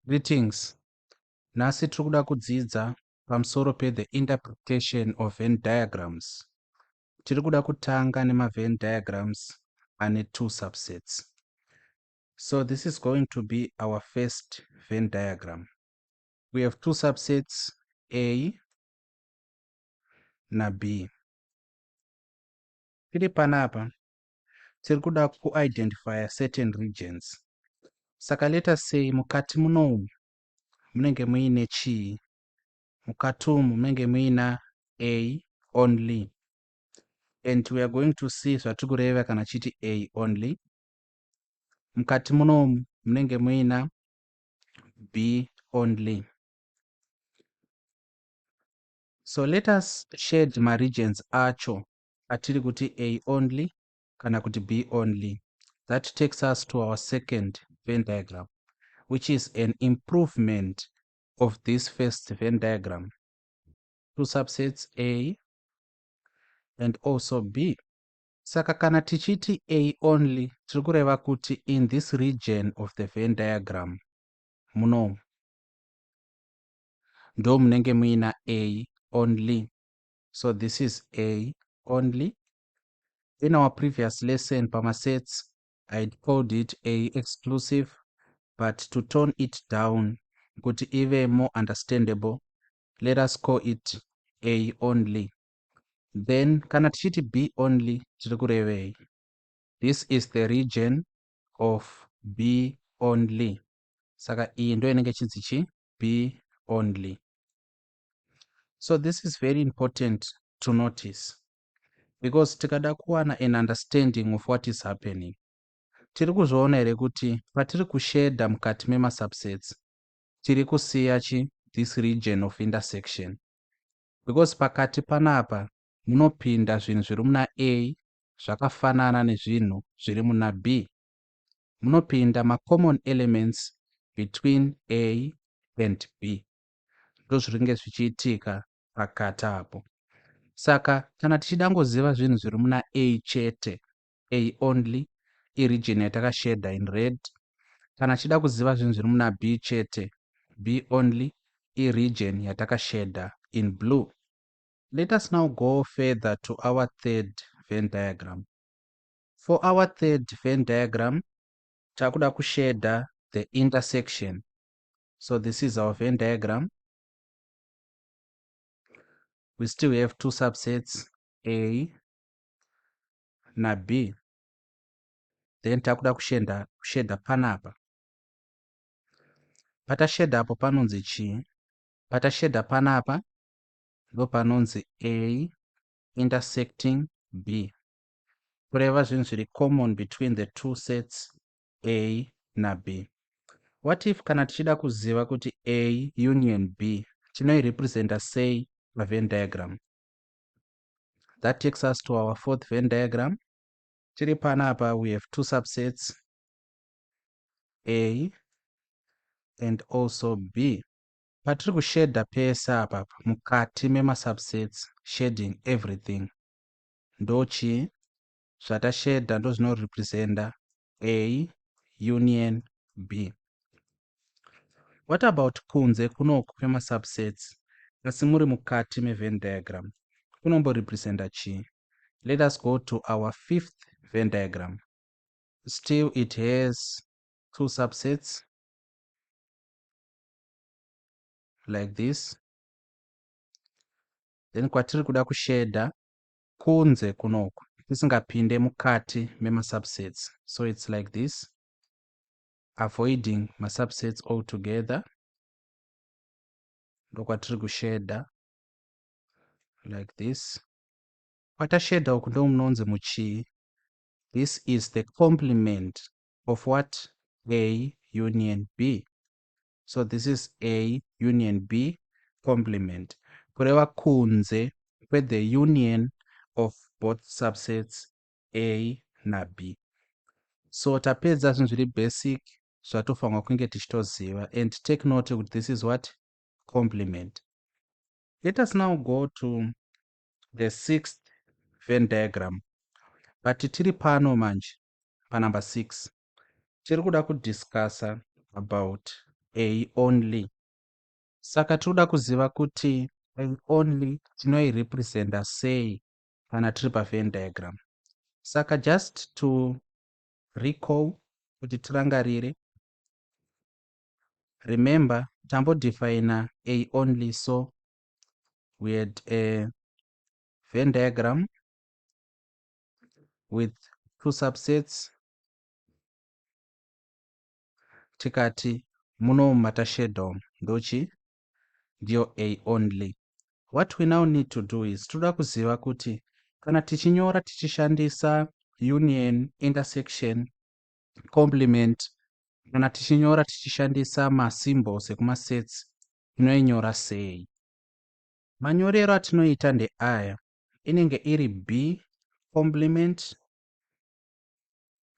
Greetings. Nhasi tiri kuda kudzidza pamusoro pe the interpretation of Venn diagrams. Tiri kuda kutanga nema Venn diagrams ane two subsets. So this is going to be our first Venn diagram. We have two subsets A na B. Tiri panapa tiri kuda kuidentifya certain regions saka let us say mukati munomu munenge muine chii mukati umu munenge muina a only and we are going to see zvatiri kureva kana chiti a only mukati munomu munenge muina b only so let us shade maregions acho atiri kuti A only kana kuti B only. That takes us to our second Venn diagram, which is an improvement of this first Venn diagram. Two subsets A and also B. Saka kana tichiti A only, tiri kureva kuti in this region of the Venn diagram, munomu, ndomunenge muina A only. so this is a only in our previous lesson pamasets i called it a exclusive but to tone it down kuti ive more understandable let us call it a only then kana tichiti b only tiri kurevei this is the region of b only saka iyi ndo inenge chinzi chi b only so this is very important to notice because tikada kuwana an understanding of what is happening tiri kuzviona here kuti patiri kushedha mukati memasubsets tiri kusiya chi this region of intersection because pakati panapa munopinda zvinhu zviri muna a zvakafanana nezvinhu zviri muna b munopinda macommon elements between a and b ndozviringe zvichiitika pakati apo saka kana tichida ngoziva zvinhu zviri muna a chete a only irigin yatakashedha in red kana tichida kuziva zvinhu zviri muna b chete b only irigin yatakashedha in blue let us now go further to our third ven diagram for our third ven diagram takuda kushedha the intersection so this is our venn diagram we still have two subsets a na b then takuda kushenda kushedha panapa patashedha apo panonzi chii patashedha panapa ndo panonzi a intersecting b kureva zvinhu zviri common between the two sets A naB. What if kana tichida kuziva kuti A union B tinoirepresenta sei paVenn diagram? That takes us to our fourth Venn diagram. Tiri panapa we have two subsets A and also B. Patiri kushedha pese apa mukati memasubsets shading everything ndochii zvatashedha ndozvinorepresenta A union B. What about kunze kunoku kwemasubsets asi muri mukati mevenn diagram kunomborepresenta chii? Let us go to our fifth venn diagram. Still it has two subsets like this. Then kwatiri kuda kushedha kunze kunoku tisingapinde mukati memasubsets so its like this avoiding masubsets all together ndokwatiri kushedha like this kwatashedha uku ndomunonzi muchii this is the complement of what a union b so this is a union b complement kureva kunze kwethe union of both subsets a nab so tapedza zvinhu zviri basic zvatofanirwa kunge tichitoziva and take note kuti this is what complement let us now go to the sixth venn diagram but tiri pano manje panumber six tiri kuda kudiscusser about a only saka tiri kuda kuziva kuti a only tinoirepresenta sei kana tiri pavenn diagram saka just to recall kuti tirangarire remember tambodefina a only so we had a venn diagram with two subsets tikati muno mumata shadow ndochi ndiyo a only what we now need to do is tinoda kuziva kuti kana tichinyora tichishandisa union intersection complement kana tichinyora tichishandisa masymbols ekumasets tinoinyora sei manyorero atinoita ndeaya inenge iri b complement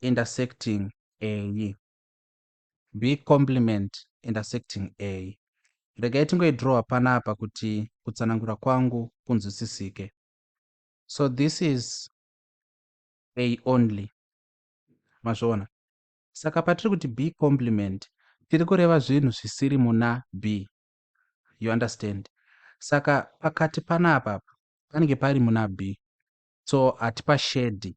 intersecting a b complement intersecting a regai tingoidrowa panapa kuti kutsanangura kwangu kunzwisisike so this is a only mazviona saka patiri kuti b complement tiri kureva zvinhu zvisiri muna b you understand saka pakati panapa panenge pari muna b so hatipa shedi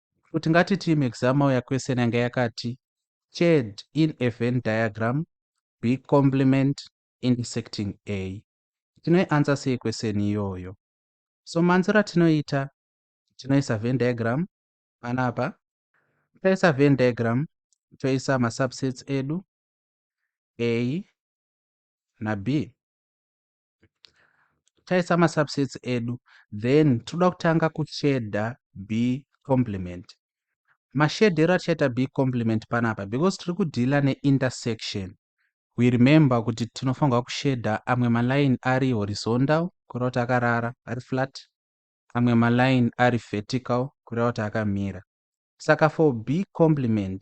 Kuti ngati team exam mauya question yanga yakati chad in a Venn diagram be complement intersecting a. Tinoiansa sei question iyoyo? So manziro atinoita tinoisa Venn diagram panapa. Taisa Venn diagram toisa masubsets edu a na b. taisa masubsets edu then tinoda kutanga kushedha b complement mashedhero atichaita b complement panapa because tiri kudhila neintersection we remember kuti tinofanirwa kushedha amwe maline ari horizontal kureva kuti akarara ari flat amwe maline ari vertical kureva kuti akamira saka for b complement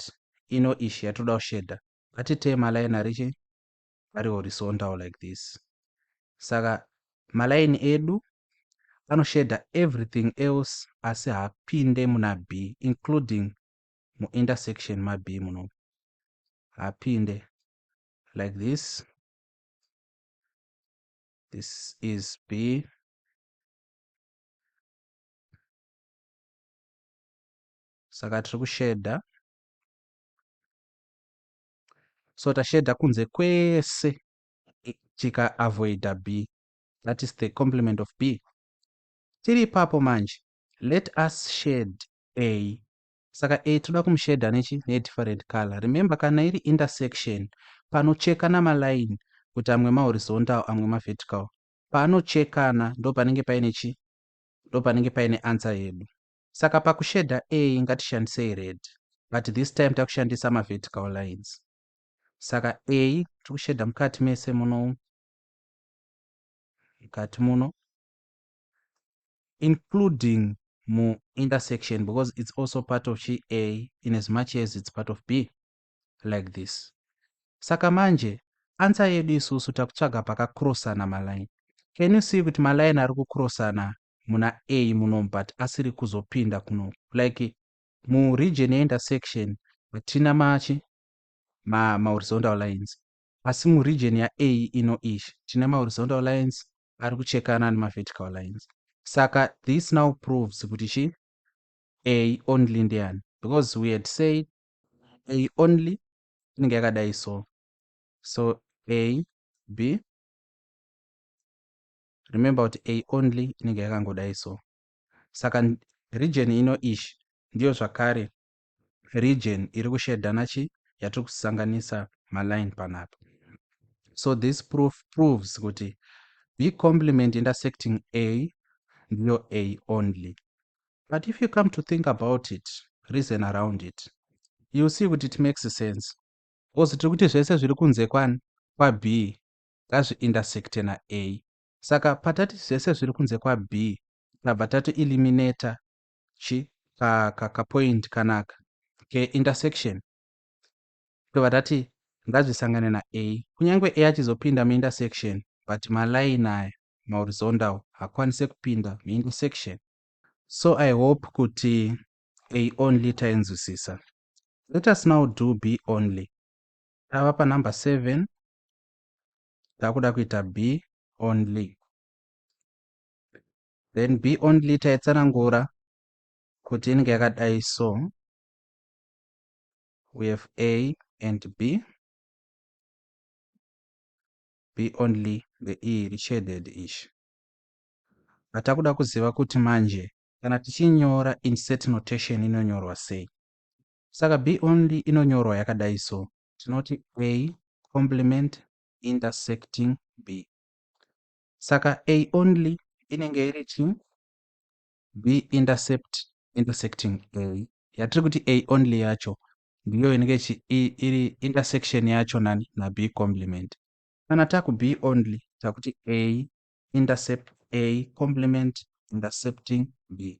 ino ishi yatoda kushedha ngatitee maline arichi ari horizontal like this saka malaini edu anoshader everything else asi hapinde muna b including muintersection mab muno hapinde like this this is b saka tiri kushedha so tashedha kunze kwese tika avoida b that is the complement of b tiri ipapo manje let us shed a saka a toda kumushedha nechi nedifferent color remember kana iri intersection panochekana maline kuti amwe mahorizontal amwe mavertical panochekana ndo panenge paine chi ndo panenge paine answer yedu Saka pakushader A ngatishandisei red but this time takushandisa mavertical lines. Saka A tirikushader mukati mese muno mukati muno including mu intersection because it's also part of chi a in as much as it's part of b like this saka manje ansa yedu isusu takutsvaga pakakrosana maline can you see kuti maline ari kukrosana muna a muno but asiri kuzopinda kuno like muregion yeintersection hatina machi ma, mahorizontal lines asi muregion yea ino ish tine mahorizontal lines ari kuchekana nemavertical lines saka this now proves kuti chi a only ndiani because we had said a only inenge yakadai so so a b remember kuti a only inenge yakangodai so saka region ino ish ndiyo zvakare region iri kushedhana chi yatiri kusanganisa maline panapa so this proof proves kuti b complement intersecting a ndiyo a only but if you come to think about it reason around it you see kuti it makes sense because tiri kuti zvese zviri kunze kwani kwab ngazviintersecte na A. Saka patati zvese zviri kunze kwa B tabva tato eliminator chi ka ka ka point kanaka ke intersection tobva tati ngazvisangane na A. Kunyange A achizopinda mu intersection but ma line aya ma horizontal hakwanise kupinda mu intersection. So I hope kuti A only tainzwisisa. Let us now do B only. Tava pa number 7 takuda kuita b only then b only taitsanangura kuti inenge yakadai so we have a and b b only the e richaded ishi atakuda kuziva kuti manje kana tichinyora insert notation inonyorwa sei Saka be only inonyorwa yakadai so. Tinoti a complement intersecting be. Saka a only inenge iri chi be intercept intersecting a. Yatiri kuti a only yacho ndiyo inenge chi iri intersection yacho nani na be complement. Kana taku be only takuti a intercept a complement intercepting b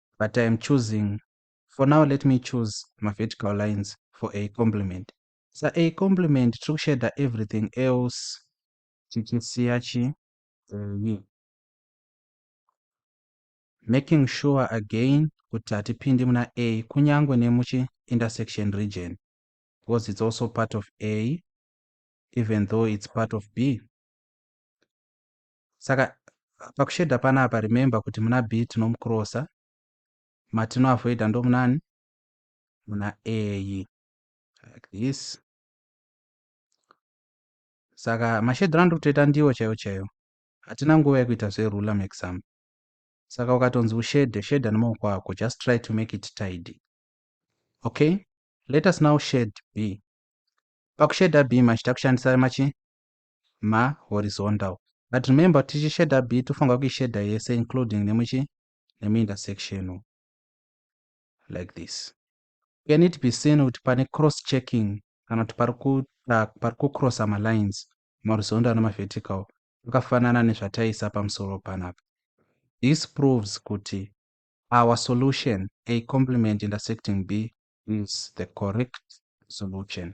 but I am choosing for now let me choose ma vertical lines for a complement sa a complement tiri kusheda everything else tichisiya chi eye making sure again kuti hatipindi muna a kunyange nemuchi intersection region because it's also part of a even though it's part of b Saka pakushedha panapa remember kuti muna B tinomukrosa, matinoavoida ndomunani? Muna A like this. Saka mashedhiro andiri kutoita ndiwo chaiwo chaiwo. Hatina nguva yekuita zverula muexample. Saka ukatonzi ushedhe, shedha nemaoko ako, just try to make it tidy. Okay? Let us now shade B. Pakushedha B machita kushandisa machi ma horizontal but remember kuti tichi shader b tofanirwa kuishader yese including nemuchi nemiintersectional like this can it be seen kuti pane cross checking kana kuti pari kucrossa malines mahorizontal nemavertical akafanana nezvataisa pamusoro panapa this proves kuti our solution a complement intersecting b is the correct solution